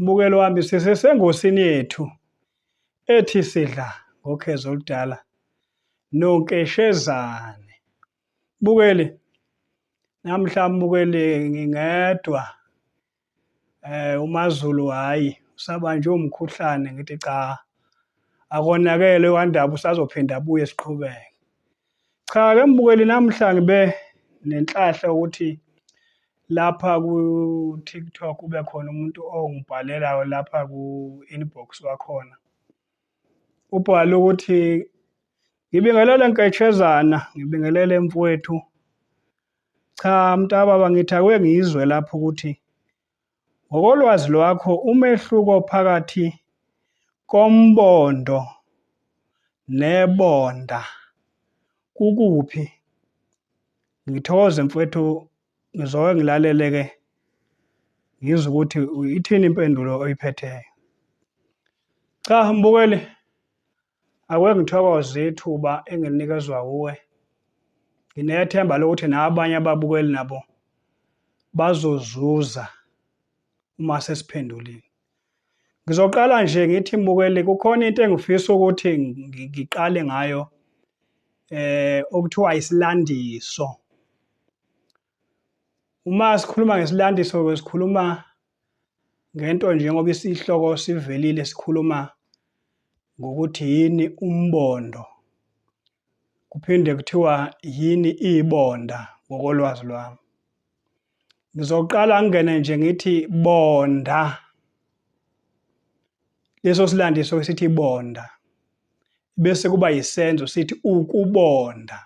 Mbukelo wami sisesengosini yethu ethi sidla ngokhezo oludala nonkeshezane. Bukeli namhla mbukeli ngingedwa eh uMaZulu hayi usabanjwe umkhuhlane ngithi cha akonakele wandaba usazophinda abuye siqhubeke. Cha ke mbukeli namhla ngibe nenhlahla ukuthi lapha ku TikTok kube khona umuntu ongibhalelayo lapha ku inbox wakhona. Ubhala ukuthi ngibingelele nketshezana, ngibingelele mfowethu. Cha mntababa ngithakwe ngizwe lapho ukuthi Ngokolwazi lwakho umehluko phakathi kombondo nebonda kukuphi? Ngithokoze mfwethu ngizoke ngilalele ke ngizwe ukuthi ithini impendulo oyiphetheyo. Cha mbukeli Akuke ngithokoze ithuba engilinikezwa wuwe. Nginethemba lokuthi nabanye ababukeli nabo bazozuza uma sesiphendulile. Ngizoqala nje ngithi mbukeli kukhona into engifisa ukuthi ngiqale ngayo eh okuthiwa isilandiso. Uma sikhuluma ngesilandiso ke sikhuluma ngento njengoba isihloko sivelile sikhuluma ngokuthi yini umbondo kuphinde kuthiwa yini ibonda ngokolwazi lwami ngizoqala ngingene nje ngithi bonda leso silandiso esithi bonda bese kuba yisenzo sithi ukubonda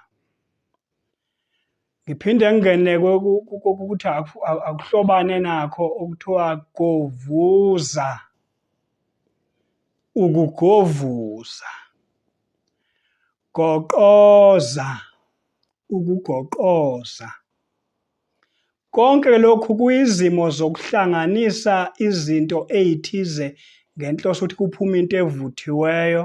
ngiphinde ngingene kokuthi akuhlobane nakho okuthiwa govuza ukugovuza goqoza ukugoqoza konke lokhu kuyizimo zokuhlanganisa izinto ezithize ngenhloso ukuthi kuphume into evuthiweyo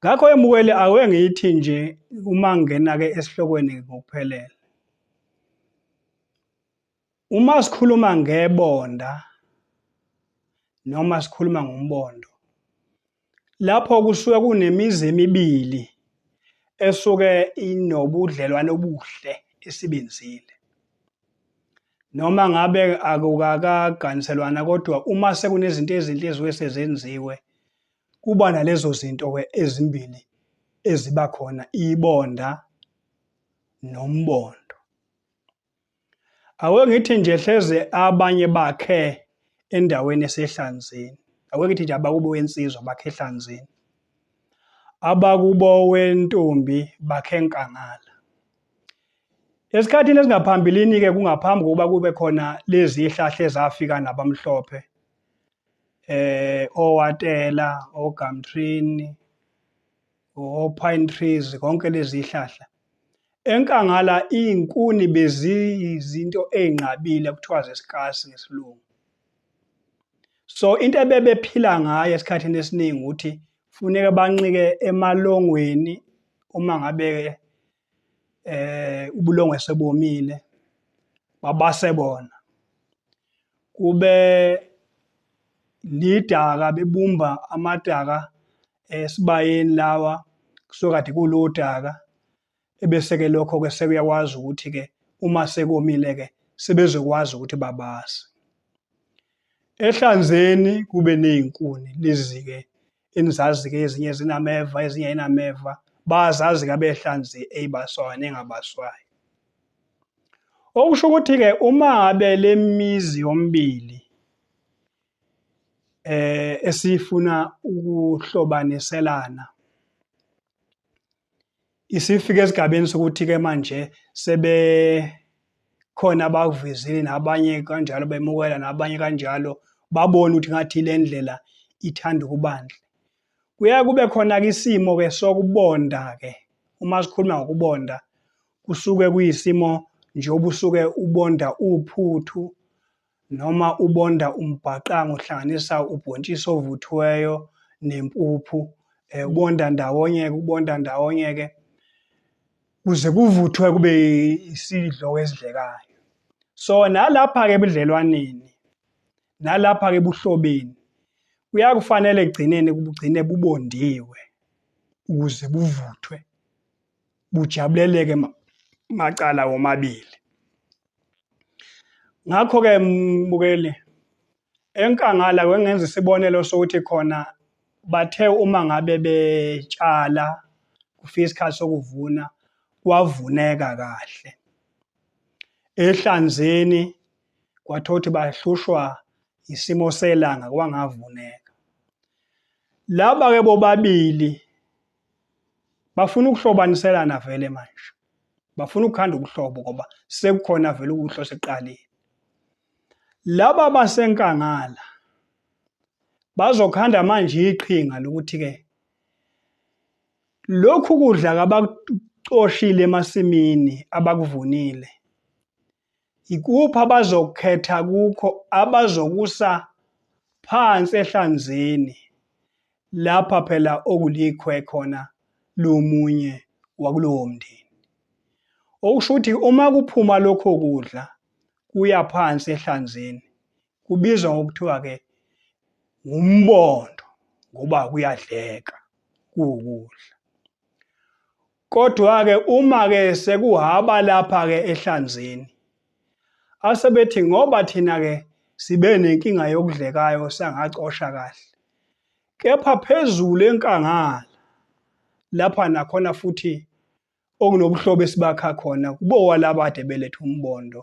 Ngakho emukeli awe ngithi nje uma ngena ke esihlokweni ngokuphelele. Uma sikhuluma ngebonda noma sikhuluma ngombondo lapho kusuke kunemizi emibili esuke inobudlelwane obuhle esibenzile. Noma ngabe akukakaganiselwana kodwa uma sekunezinto ezinhle eziwe sezenziwe kuba nalezo zinto ke ezimbili eziba khona ibonda nombondo. Aweke ngithi nje hleze abanye bakhe endaweni esehlanzeni. Aweke ngithi nje abakubo wensizwa bakhe ehlanzeni. Abakubo wentombi bakhe enkangala. Esikhathini esingaphambilini-ke kungaphambi kokuba kube khona lezi hlahla ezafika nabamhlophe eh owatela ogamtrini o-pine trees konke lezi hlahla enkangala izinkuni beziyizinto ezinqabile kuthiwa zesikasi ngesilungu so into ebebephila ngayo esikhathini esiningi ukuthi Funeka banqike emalongweni uma ngabe eh ubulongwe sebomile babase bona kube lidaka bebumba amadaka esibayeni lawa kusokade kulodaka Ebese-ke lokho-ke sekuyakwazi ukuthi-ke uma sekomile-ke sebezokwazi ukuthi babase. Ehlanzeni kube nezinkuni lizike enizazike ezinye zinameva ezinye ayinameva bazazi ke abehlanzi eyibaswayo nengabaswayo. Okusho ukuthi-ke uma ngabe le mizi yombili eh esifuna ukuhlobaniselana isifike esigabeni sokuthi-ke manje sebekhona abakuvezile nabanye kanjalo bemukela nabanye kanjalo babone ukuthi ngathi le ndlela ithanda ukubandla kuya kube khona-ke isimo-ke sokubonda-ke uma sikhuluma ngokubonda kusuke kuyisimo njengoba usuke ubonda uphuthu Noma ubonda umbhaqanga uhlanganisa ubhontshisi ovuthiweyo nempuphu um ubonda ndawonye-ke ubonda ndawonye-ke kuze kuvuthwe kube isidlo esidlekayo so nalapha-ke ebudlelwaneni nalapha-ke ebuhlobeni kuyakufanele ekugcineni kubugcine bubondiwe ukuze buvuthwe bujabuleleke macala womabili ngakho-ke mbukeli enkangala kwengenza isibonelo sokuthi khona bathe uma ngabe betshala kufika isikhathi sokuvuna kwavuneka kahle ehlanzeni kwathiwa ukuthi bahlushwa isimo selanga kwangavuneka laba-ke bobabili bafuna ukuhlobaniselana vele manje bafuna ukukhanda ubuhlobo ngoba sekukhona vele ukuhlo seqalile laba basenkangala bazokhanda manje iqhinga lokuthi ke lokhu kudla kabakucoshile emasimini abakuvunile Yikuphi abazokukhetha kukho abazokusa phansi ehlanzeni lapha phela okulikhwe khona lomunye wakulowo mndeni. Okusho ukuthi uma kuphuma lokho kudla kuya phansi ehlanzeni kubizwa ngokuthiwa-ke ngumbondo ngoba kuyadleka kuwukudla. Kodwa-ke uma-ke sekuhaba lapha-ke ehlanzeni, asebethi ngoba thina-ke sibe nenkinga yokudlekayo sangacosha kahle, kepha phezulu enkangala lapha nakhona futhi okunobuhlobo esibakha khona kubowalabade beletha umbondo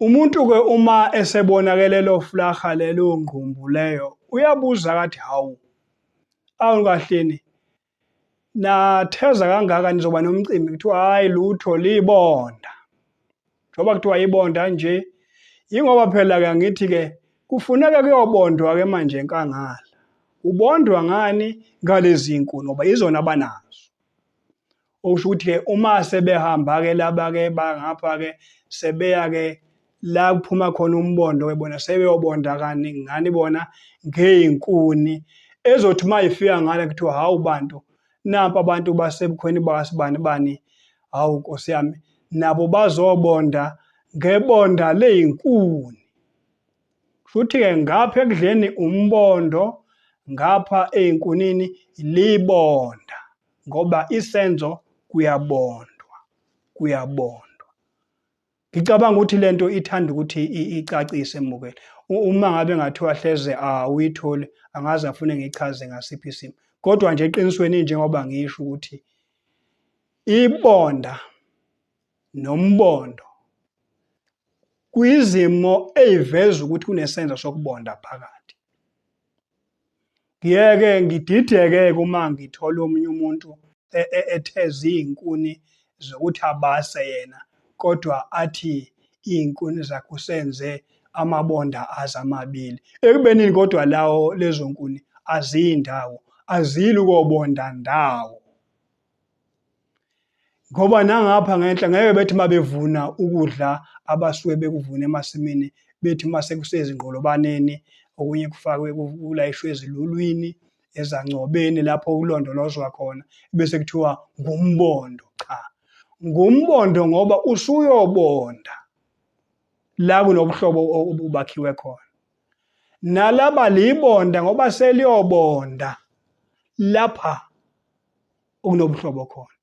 Umuntu ke uma esebonakele lo flaha lelo ngqumbu leyo uyabuza kathi hawu awu kahleni natheza kangaka nizoba nomcimbi kuthiwa hayi lutho libonda njengoba kuthiwa ibonda nje yingoba phela ke ngithi ke kufuneka kuyobondwa ke manje enkangala ubondwa ngani ngalezi nkuni ngoba izona abanazo Okusho ukuthi-ke uma sebehamba-ke laba-ke bangapha-ke sebeya-ke la kuphuma khona umbondo-ke bona sebeyobonda kani ngani bona ngey'nkuni ezothi uma ifika ngale kuthiwa hawu bantu nampa abantu basebukhweni bakasibani bani hawu nkosi yami nabo bazobonda ngebonda ley'nkuni futhi-ke ngapha ekudleni umbondo ngapha ey'nkunini libonda ngoba isenzo kuyabondwa kuyabondwa Ngicabanga ukuthi lento ithanda ukuthi icacise emukele. Uma ngabe ngathiwa hleze awuyitholi angaze afune ngichaze ngasiphi isimo. Kodwa nje eqinisweni njengoba ngisho ukuthi ibonda nombondo kuyizimo eyiveza ukuthi kunesenzo sokubonda phakathi. Ngiyeke ngidideke-ke uma ngithola omunye umuntu e-, e-, etheza izinkuni zokuthi abase yena kodwa athi izinkuni zakhe usenze amabonda azo amabili. Ekubenini kodwa lawo lezo nkuni aziyi ndawo, azili kobonda ndawo. ngoba nangapha ngenhla ngeke bethi uma bevuna ukudla abasuke bekuvuna emasimini bethi uma sekusezingqolobaneni okunye kufakwe kulayishwe ezilulwini ezancobeni lapho kulondolozwa khona bese kuthiwa ngumbondo cha ngumbondo ngoba usuyobonda la kunobuhlobo obubakhiwe khona nalaba libonda ngoba seliyobonda lapha okunobuhlobo khona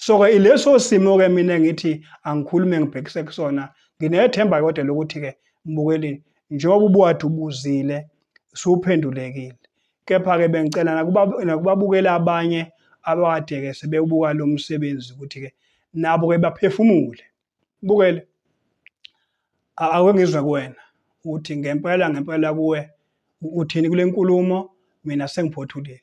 so-ke ileso simo-ke mina ngithi angikhulume ngibhekise kusona nginethemba kodwa lokuthi-ke mbukelini njengoba ubuwade ubuzile suphendulekile kepha-ke bengicela nakubabukela abanye abakade-ke sebewubuka lo msebenzi ukuthi-ke nabo-ke baphefumule bukele ake ngizwe kuwena ukuthi ngempela ngempela kuwe uthini kule nkulumo mina sengiphothulile